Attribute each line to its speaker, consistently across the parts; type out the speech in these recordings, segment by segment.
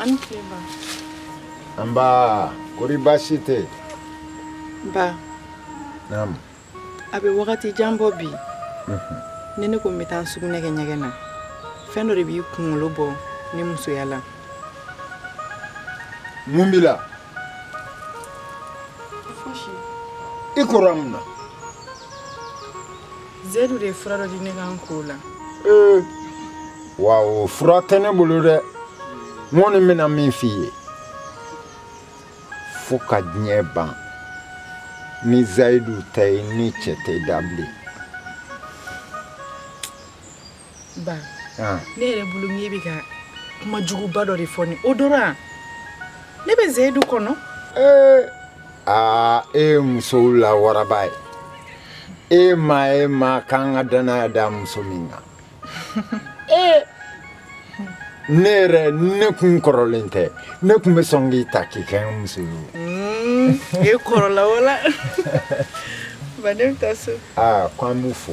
Speaker 1: an ni tile ba nba kori baasi tɛ ba naam a bɛ wagati jan bɔ bi mhm. ni ne ko n bɛ taa sugunɛ kɛ ɲɛgɛn na fɛn dɔ de b'i kunkolo bɔ ne musoya la mun b'i la i kora mun na zeyidu de ye fura dɔ di ne kan k'o la ee wa o fura tɛ ne bolo dɛ n kɔni bɛna min f'i ye fo ka diɲɛ ban ni zayidu tɛ i ni cɛ tɛ da bilen ba ah. ne yɛrɛ bolo n'i bɛ ka kuma juguba dɔ de fɔ ni o dɔrɔn ne bɛ zeyidu kɔnɔ ee eh, aa ah, e ye musow la waraba ye e maa ye maa ka kan ka danaya da muso min kan ee eh, ne yɛrɛ ne kun kɔrɔlen tɛ ne kun bɛ sɔn k'i ta k'i kɛ n muso ye mm, e kɔrɔla wala ba ne bɛ taa so aa ah, ko an b'u fo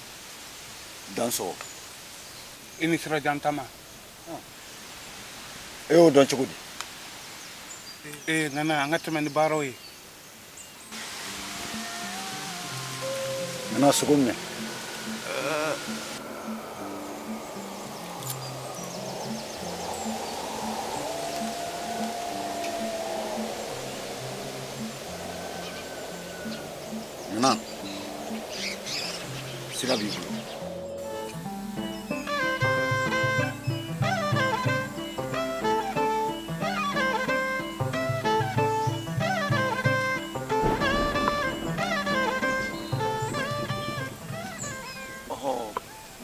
Speaker 1: dansɔgɔ i ni sirajan tama e y'o dɔn cogo di ee nana an ka tɛmɛ ni baaraw ye nana sogo minɛ nana sira b'i bolo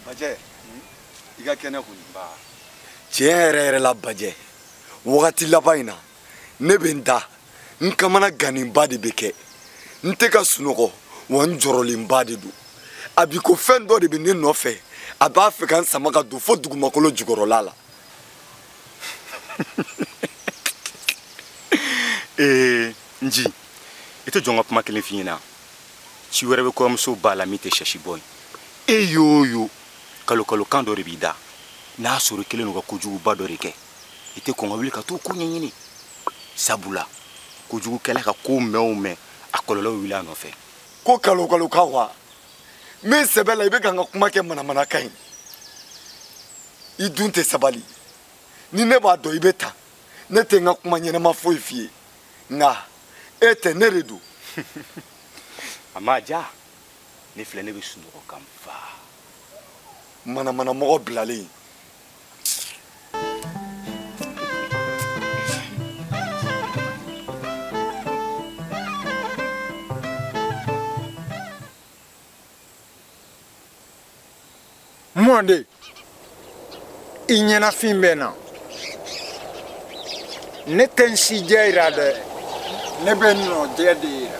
Speaker 1: bajɛ i ka kɛnɛ kɔni tiɲɛ yɛrɛ yɛrɛ la bajɛ wagati laban in na ne bɛ n da n kamanagannenba de bɛ kɛ n tɛ ka sunɔgɔ wa n jɔrɔlenba de don a b'i ko fɛn dɔ de bɛ ne nɔfɛ a b'a fɛ ka n sama ka don fo dugumakolo jukɔrɔla la ee nji i t'i jɔ n ka kuma kelen f'i ɲɛna ci wɛrɛ bɛ kɔrɔmusoba la min tɛ shɛ si bɔ ye e y'o yo kalo kalo kan dɔ de b'i da n'a sɔrɔ i kɛlen don ka kojuguba dɔ de kɛ i tɛ kɔn ka wuli ka t'o ko ɲɛɲini sabula kojugukɛla ka ko mɛn o mɛn a kɔlɔlɔ wuli a nɔfɛ ko kalo kalo ka wa n bɛ sɛbɛ la i bɛ ka n ka kuma kɛ manamanakan ye i dun tɛ sabali ni ne b'a dɔn i bɛ tan ne tɛ n ka kuma ɲɛnama foyi f'i ye nka e tɛ ne de don a ma ja ne filɛ ne bɛ sunɔgɔ ka n fa manamanamɔgɔ bilalen mɔnden i ɲɛnafin bɛ n na ne tɛ n si jɛ jira dɛ ne bɛ n nɔ jɛ de jira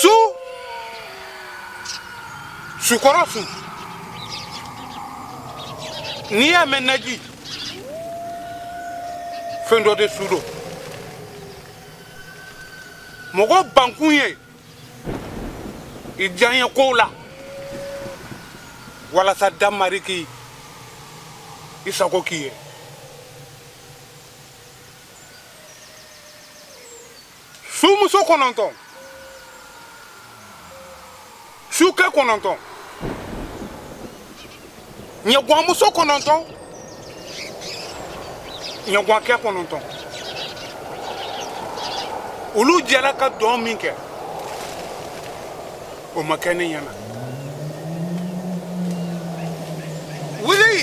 Speaker 1: su sukɔrɔ su n'i y'a mɛn naji fɛn dɔ de su don mɔgɔ bankun ye i diyanyekow la walasa damari k'i sago k'i ye sumuso kɔnɔntɔn sukɛ kɔnɔntɔn ɲaguanmuso kɔnɔntɔn ɲaguankɛ kɔnɔntɔn olu jɛra ka dɔn min kɛ o ma kɛ ne ɲɛna wuli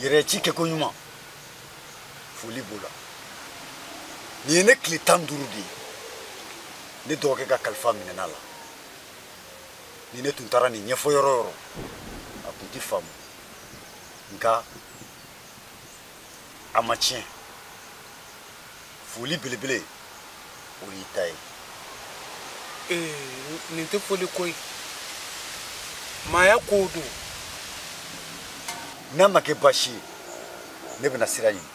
Speaker 1: yɛrɛ y'a ci kɛ koɲuman foli b'o la nin ye ne tile tan duuru de ye ne dɔgɔkɛ ka kalifa minɛna la ni ne tun taara nin ɲɛfɔ yɔrɔ yɔrɔ a tun tɛ faamu nka a ma tiɲɛ foli belebele o y'i ta ye ee nin tɛ foli ko ye maaya kow don n'a ma kɛ baasi ye ne bɛna sira ɲini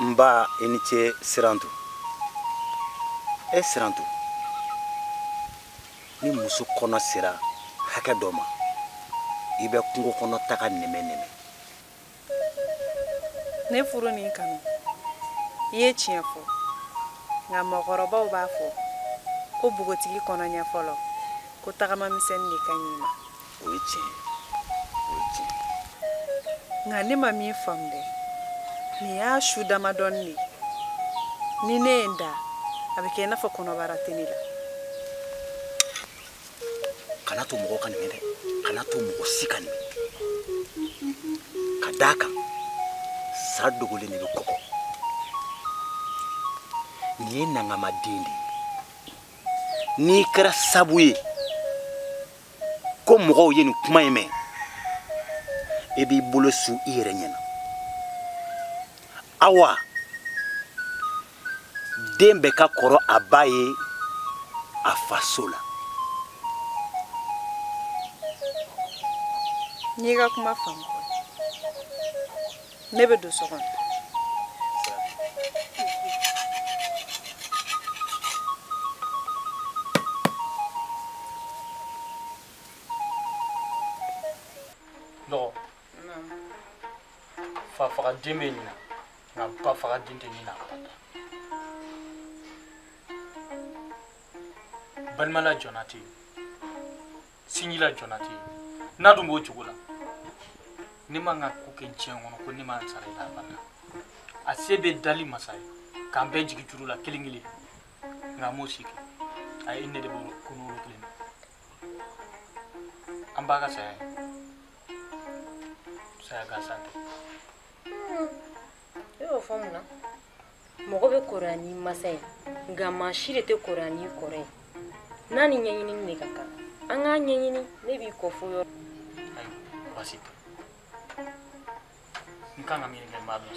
Speaker 1: n ba i ni ce sirantu e sirantu ni muso kɔnɔ sera hakɛ dɔ ma i bɛ kungo kɔnɔ taga nɛmɛ nɛmɛ ne furu nin kanu i ye tiɲɛ fɔ nka mɔgɔkɔrɔbaw b'a fɔ ko bogotigi kɔnɔ ɲɛ fɔlɔ ko tagama misɛnnin de ka ɲi a ma o ye tiɲɛ o ye tiɲɛ nka ne ma min faamu dɛ nin y'a su damadɔnin de ye ni ne ye n da a bɛ kɛ i n'a fɔ kɔnɔbara tɛ ne la kana to mɔgɔ ka nin mɛn dɛ kana to mɔgɔ si ka nin mɛn ka d'a kan sa dogolen de bɛ kɔgɔ nin ye nankama den de ye n'i kɛra sabu ye ko mɔgɔw ye nin kuma in mɛn i b'i bolo su i yɛrɛ ɲɛ na awa den bɛɛ ka kɔrɔ a ba ye a faso la n y'i ka kuma faamu ne bɛ don so kɔnɔ dɔgɔ fa faga den bɛ ɲina nka ba faga den tɛ ɲina balimala jɔnna tɛ yen sinjila jɔna tɛ yen n'a dun b'o cogo la ne man kan ka ko kɛ diɲɛ kɔnɔ ko ne ma n sara i la abada a se bɛ dali masa ye k'an bɛɛ jigin juru la kelen kelen nka a m'o si kɛ a ye ne de bɔ kɔnɔ kelen na an ba ka saya ye saya gansan tɛ e y'o fɔ mun na mɔgɔ bɛ kɔrɔya ni masa ye nka maa si de tɛ kɔrɔya n'i kɔrɔ ye n'a ni ɲɛɲinini de ka kan an k'a ɲɛɲini ne b'i kɔ fo yɔrɔ ayi baasi tɛ n kan ka miiri kɛ n b'a dɔn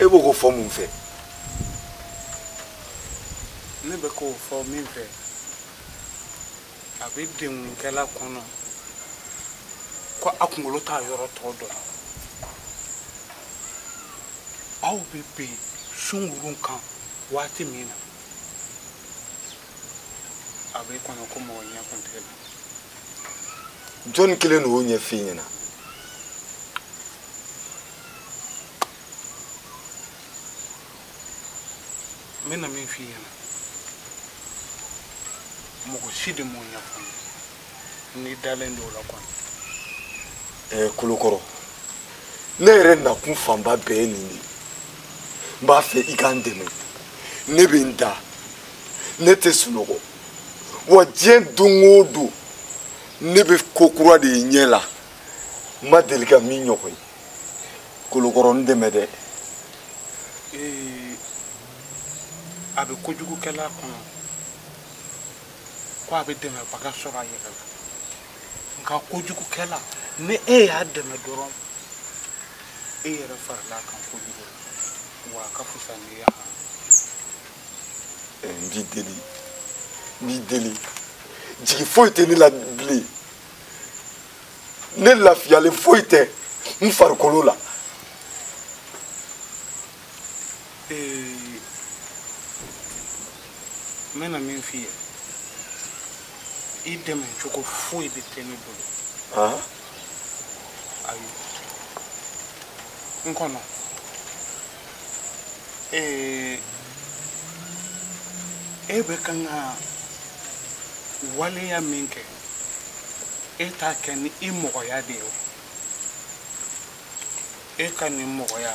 Speaker 1: e bɛ k'o fɔ mun fɛ ne bɛ k'o fɔ min fɛ a bɛ degunkɛla kɔnɔ ko a kunkolo t'a yɔrɔ tɔ dɔn aw bɛ bɛn sungurun kan waati min na a b'e kɔnɔ ko mɔgɔ ɲɛ kun t'e la jɔnni kelen de y'o ɲɛf'i ɲɛna n bɛna min f'i ɲɛna mɔgɔ si de m'o ɲɛfɔ n ye n'i dalen don o la kɔni ɛɛ kolokɔrɔ ne yɛrɛ nakun fanba bɛɛ ye nin de ye n b'a fɛ i ka n dɛmɛ ne bɛ n da ne tɛ sunɔgɔ wa diɲɛ don o don ne bɛ ko kura de ye n ɲɛ la n ma deli ka min ɲɔgɔn ye kolokɔrɔ n dɛmɛ dɛ a bɛ kojugukɛla kɔnɔ ko a bɛ dɛmɛbaga sɔrɔ a yɛrɛ la nka kojugukɛla ni e y'a dɛmɛ dɔrɔn e yɛrɛ farila kan kojugu wa a ka fisa n'i ye eh, n b'i deli n b'i deli jigi foyi tɛ ne la bilen ne lafiyalen foyi tɛ n farikolo la n bɛna min f'i ye i dɛmɛ cogo foyi de tɛ ne bolo ayi n kɔnɔ ee e bɛ kan ka waleya min kɛ e t'a kɛ ni i mɔgɔya de ye o e ka nin mɔgɔya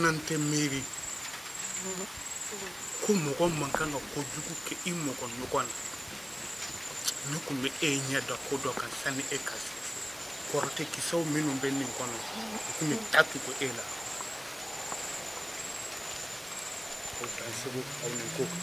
Speaker 1: n'an tɛ miiri ko mɔgɔ man kan ka ko jugu kɛ i mɔgɔ ɲɔgɔn na ne tun bɛ e ɲɛ da ko dɔ kan sanni e ka se kɔrɔtɛ kisɛw minnu bɛ nin kɔnɔ u tun bɛ taa tugu e la o dan segu aw ni ko kan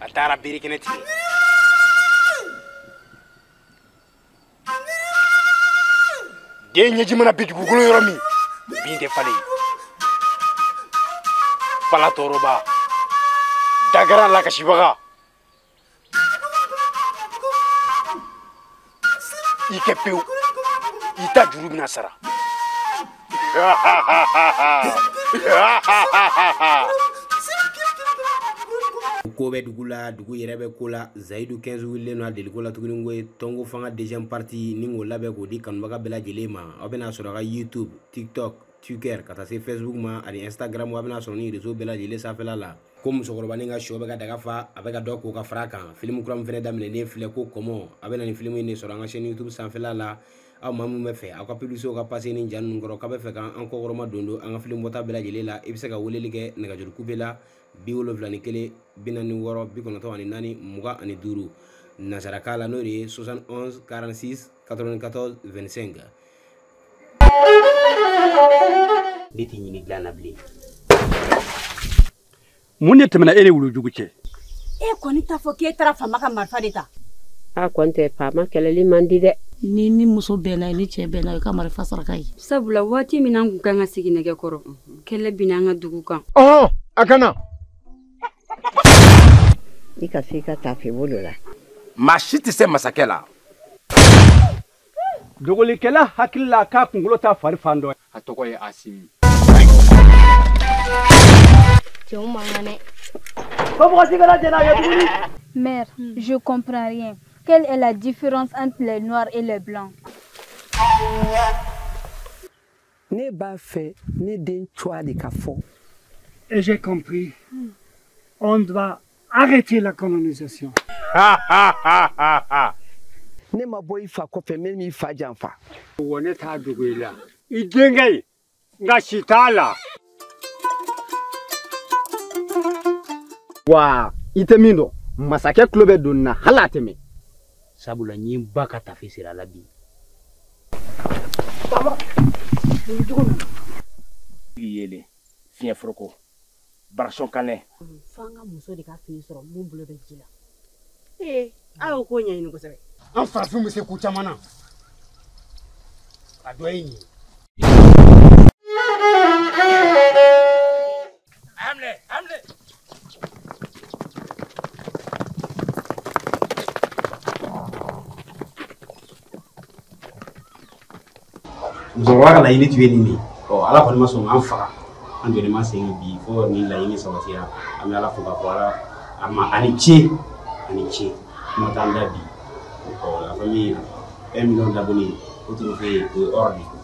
Speaker 1: a taara birikɛnɛ tigɛ den ɲɛji mana bin dugukolo yɔrɔ min bin tɛ falen fala tɔɔrɔbaa dangara lakasibaga i kɛ pewu i ta juru bɛna sara ko bɛ dugu la dugu yɛrɛ bɛ ko la zayidu 15 wulilen don a deliko la tuguni k'o ye tɔnko fanga deuxième partie nin k'o labɛn k'o di kanubaga bɛɛ lajɛlen ma aw bɛna a sɔrɔ a ka youtube tiktok twitter ka taa se facebook ma ani instagram aw bɛna a sɔrɔ nin réseau bɛɛ lajɛlen sanfɛla la ko musokɔrɔbanin ka shɔ bɛ ka daga fa a bɛ ka dɔ ko ka fara a kan filimu kura min fɛnɛ daminɛnen filɛ ko kɔmɔ a bɛ na nin filimu in de sɔrɔ an ka chaîne youtube sanfɛla la aw maa minnu bɛ fɛ aw ka publicitéw ka passer ni ja ninnu kɔrɔ k'a bɛ fɛ ka an kɔkɔrɔma don don an ka filimu bɔta bɛɛ lajɛlen la i bɛ se ka weleli kɛ nɛgɛjuru kube la bi wolonwula ni kelen bi naani ni wɔɔrɔ bi kɔnɔntɔn ani naani mugan ani duuru nansarakan la n'o de ye 71 46 94 25 ne tɛ ɲini dilan na bilen mun de tɛmɛna e ni wulujugu cɛ e kɔni t'a fɔ k'e taara faama ka marifa de ta a kɔni tɛ faama kɛlɛli man di dɛ ni ni muso bɛnna ni cɛ bɛnna i ka marifa saraka ye sabula waati min an kun kan ka sigi ɲɔgɔn kɔrɔ kɛlɛ binna an ka dugu kan ɔhɔn a ɲana i ka se i ka tafe bolo la maa si tɛ se masakɛ la dogolikɛla hakili la k'a kunkolo t'a fari fan dɔ ye a tɔgɔ ye asimi cɛw man kan dɛ ko mɔgɔ si kana jɛn n'a ye tuguni mère je comprends rien quelle est la différence entre les noirs et les blancs Ne b'a fɛ ne den cogoya de ka fɔ. Et j'ai compris. Hmm. On doit arrêter la colonisation. ne ma bɔ i fa kɔfɛ ne m'i fa janfa. Wa ne t'a dogo i la. I denkɛ in nka si t'a la. wa i tɛ min dɔn masakɛ tulo bɛ don na hali a tɛ mɛn sabula n ye n ba ka tafe siri a la bi yelen fiɲɛ foroko barasɔn kanɛ fo an ka muso de ka fini sɔrɔ min bolo bɛ ji la ee a y'o ko ɲɛɲini kosɛbɛ an farafin bɛ se ko caman na a dɔ ye nin ye musokɔrɔba ka laɲini tun ye nin de ye ɔ ala kɔni ma sɔn an faga an jɔlen ma sen bi fo nin laɲini sabatira an bɛ ala fo k'a fɔ ala ma a ni ce a ni ce kuma t'an da bi ɔ la famille un million d'abonnés o tun fɛ yen o ye hors de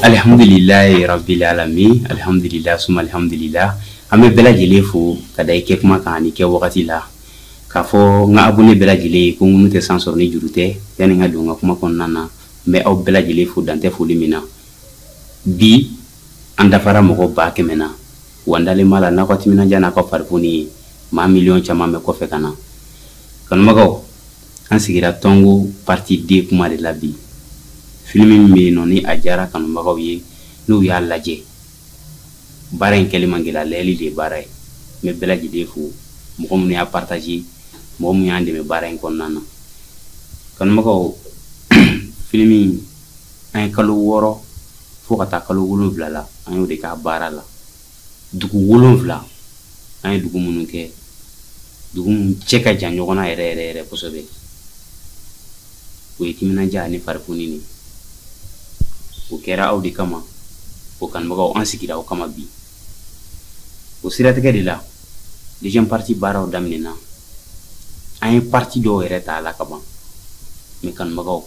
Speaker 1: Alihamdulilayi rabilalamin alihamdulila suma alihamdulila an bɛ bɛɛ lajɛlen fo ka da i kɛ kuma kan ni kɛ wagati la k'a fɔ n ka abonné bɛɛ lajɛlen ye ko ŋunu tɛ san sɔrɔ ni juru tɛ yanni n ka don ka kuma kɔnɔna na n bɛ aw bɛɛ lajɛlen fo dan tɛ foli min na bi an dafara mɔgɔ ba kɛmɛ na wa dalen b'a la n'aw ka timinandiya n'a ka farifoni ye maa miliyɔn caman bɛ kɔfɛ ka na kanubagaw an sigira tɔnko partie deux kuma de la bi filimi min bɛ yen nɔ ni a diyara kanubagaw ye n'u y'a lajɛ baara in kɛli man gɛlɛn lajɛli de ye baara ye n bɛ bɛɛ lajɛlen fo mɔgɔ minnu y'a partage mɔgɔ minnu y'an dɛmɛ baara in kɔnɔna na kanubagaw filimi an ye kalo wɔɔrɔ fo ka taa kalo wolonwula la an y'o de k'a baara la dugu wolonwula an ye dugu minnu kɛ dugu minnu cɛ ka jan ɲɔgɔn na yɛrɛ yɛrɛ yɛrɛ kosɛbɛ o ye timinandiya ani farifoni de o kɛra aw de kama o kanubagaw an sigira aw kama bi o siratigɛ de la deuxième partie baaraw daminɛna an ye partie dɔw yɛrɛ ta a la ka ban mais kanubagaw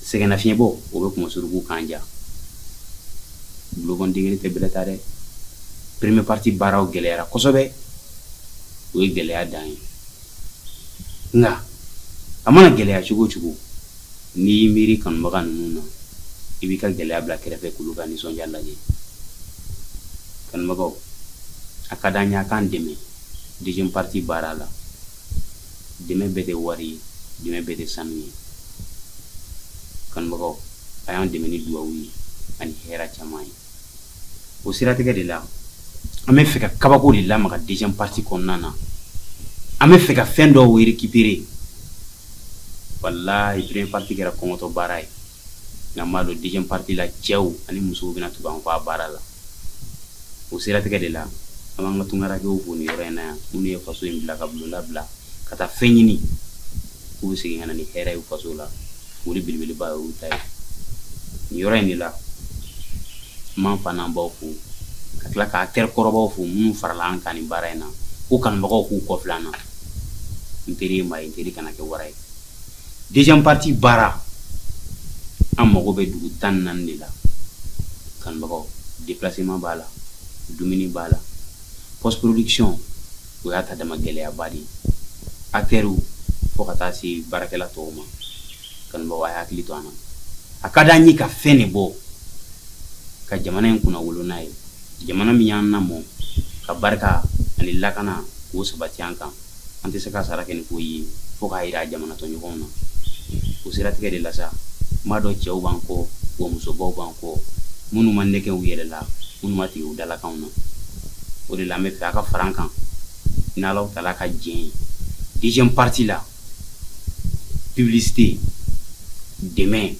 Speaker 1: sɛgɛnnafiɲɛbɔ o bɛ kunmasorogow kan ja bolokɔni kelen tɛ bɛlɛ ta dɛ première partie baaraw gɛlɛyara kosɛbɛ o ye gɛlɛya dan ye nka a mana gɛlɛya cogo o cogo n'i y'i miiri kanubaga ninnu na i b'i ka gɛlɛya bila kɛrɛfɛ k'olu ka nisɔndiya lajɛ kanubagaw a ka d'an ye a k'an dɛmɛ deuxième partie baara la dɛmɛ bɛɛ tɛ wari ye dɛmɛ bɛɛ tɛ sanu ye kanubagaw a y'an dɛmɛ ni duwawu ye ani hɛrɛ caman ye o siratigɛ de la an b'a fɛ ka kabako de lamaga deuxième partie kɔnɔna na an b'a fɛ ka fɛn dɔw récupérer walahi première partie kɛra kɔngɔtɔ baara ye nka n b'a dɔn deuxième partie la cɛw ani musow bɛna tugu an kɔ a baara la o siratigɛ de la an b'an ka tungarankɛw fo nin yɔrɔ in na yan minnu ye faso in bila ka bulonda bila ka taa fɛn ɲini k'u bɛ segin ka na ni hɛrɛ ye faso la foli belebeleba y'olu ta ye nin yɔrɔ in de la n b'an faw n'an baw fo ka tila k'an teri kɔrɔbaw fo minnu farala an kan nin baara in na ko kanubagaw k'u kɔfilɛ an na n teri ye maa ye n teri kana kɛ wara ye deuxième partie baara an mago bɛ dugu tan ni naani de la kanubagaw déplacement b'a la dumuni b'a la post production o y'a ta dama gɛlɛyaba de ye acteurs fo ka taa se baarakɛla tɔw ma kanubagaw a hakili to an na a ka d'an ye ka fɛn de bɔ ka jamana in kunnawolo n'a ye jamana min y'an lamɔ ka barika ani lakana k'o sabati an kan an tɛ se k'a sara kɛ ni ko ye fo k'a yira jamana tɔɲɔgɔnw na o siratigɛ de la sa n b'a dɔn cɛw b'an kɔ wa musobaw b'an kɔ minnu ma nɛgɛ u yɛrɛ la minnu ma tigɛ u dalakanw na o de la an bɛ fɛ a ka fara an kan n'ala taara ka diɲɛ ye deuxième partie la publicité dɛmɛ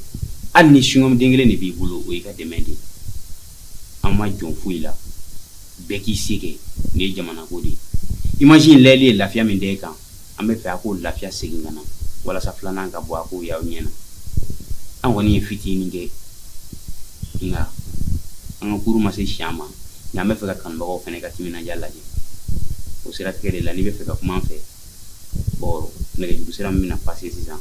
Speaker 1: hali ni singɔmuden kelen de b'i bolo o y'i ka dɛmɛ de ye an ma jɔn foyi la bɛɛ k'i se kɛ nin ye jamanako de ye image in lajɛli ye lafiya min da i kan an bɛ fɛ a k'o lafiya segin ka na walasa filanan ka bɔ a k'o y'aw ɲɛ na an kɔni ye fitinin kɛ nka an ka kuru ma se si ma nka an bɛ fɛ ka kanubagaw fana ka timinandiya lajɛ o siratigɛ de la n'i bɛ fɛ ka kuma an fɛ bɔn nɛgɛjuru sira min bɛna pase sisan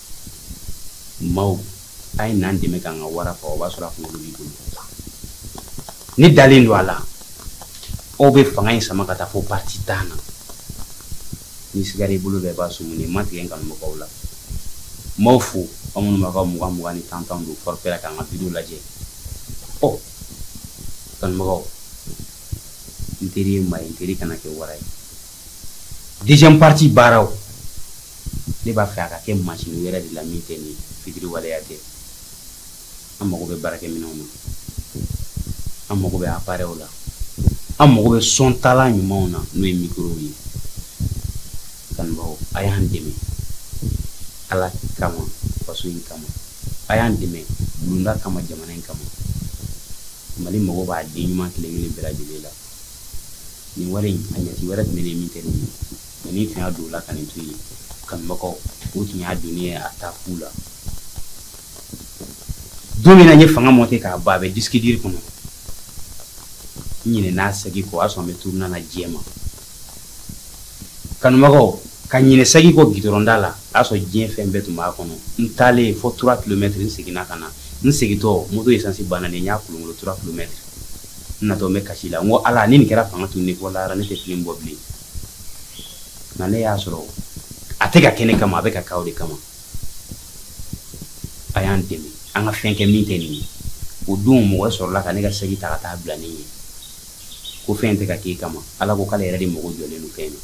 Speaker 1: Maaw a ye n'an dɛmɛ k'an ka wara faga o b'a sɔrɔ a kunkolo b'i bolo ne dalen don a la aw bɛ fanga in sama ka taa fo parti tan na ni siga i bolo bɛɛ b'a sumu ne ma tigɛ n kanubagaw la n b'aw fo aw minnu b'a ka mugan mugan ni tan tan don forfait la k'an ka video lajɛ ɔ kanubagaw n teri ye maa ye n teri kana kɛ wara ye deuxième partie baaraw ne b'a fɛ a ka kɛ masini wɛrɛ de la min tɛ nin fitiriwaleya tɛ an mago bɛ baarakɛminɛnw na an mago bɛ aparɛw la an mago bɛ sɔntalan ɲumanw na n'o ye mikorow ye kanubaaw a y'an dɛmɛ ala kama faso in kama a y'an dɛmɛ bulonda kama jamana in kama mali mago b'a den ɲuman kelen kelen bɛɛ lajɛlen la nin wari in a ɲɛci wɛrɛ tun bɛ ne min tɛ nin ye Ne tun y'a don la ka nin to yen kanubagaw o tun y'a don ye a taa k'u la don min na n ye fanga monte k'a ban a bɛ disque dur kɔnɔ ɲinɛna saki kɔ o y'a sɔrɔ bɛ tu nana diɲɛ ma kanubagaw ka ɲinɛ saki kɔ gda la a y'a sɔrɔ diɲɛ fɛn bɛɛ tun b'a kɔnɔ n taalen fo trois kilomètres n seginna ka na n segintɔ moto esansi banna ni n y'a kolonkolon trois kilomètres natɔ bɛ kasi la n ko ala ni nin kɛra fanga tununni fɔ la ne tɛ filimu bɔ bilen nka ne y'a sɔrɔ a tɛ ka kɛ ne kama a bɛ ka k'aw de kama a y'an dɛmɛ an ka fɛn kɛ min tɛ nin ye o don mɔgɔ sɔrɔla ka ne ka saki ta ka taa bila ne ye ko fɛn tɛ ka k'e kama ala ko k'ale yɛrɛ de mago jɔlen don fɛn na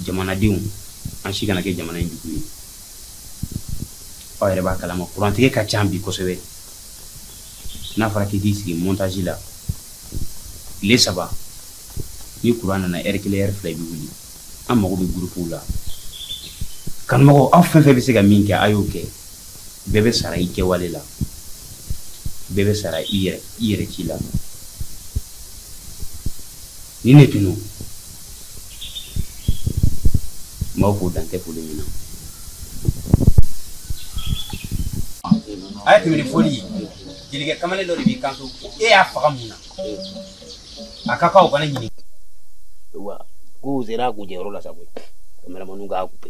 Speaker 1: jamanadenw an si kana kɛ jamana in jugu ye aw yɛrɛ b'a kalama kurantigɛ ka ca bi kosɛbɛ n'a fɔra k'i k'i sigi montage la tile saba ni kuran nana ɛri kelen ɛri fila i bɛ wuli an mago bɛ gurupuw la kanumɔgɔw aw fɛn fɛn bɛ se ka min kɛ a y'o kɛ bɛɛ bɛ sara i kɛwale la bɛɛ bɛ sara i yɛrɛ i yɛrɛ ci la Nin de tun don n b'aw fo dan tɛ foli min na a ye tɛmɛ ni foli ye jelikɛ kamalen dɔ de b'i kanto ko e y'a faga mun na a ka kan o kana ɲininka wa k'u sera a kuncɛyɔrɔ la sa koyi kameramaniw k'a kupe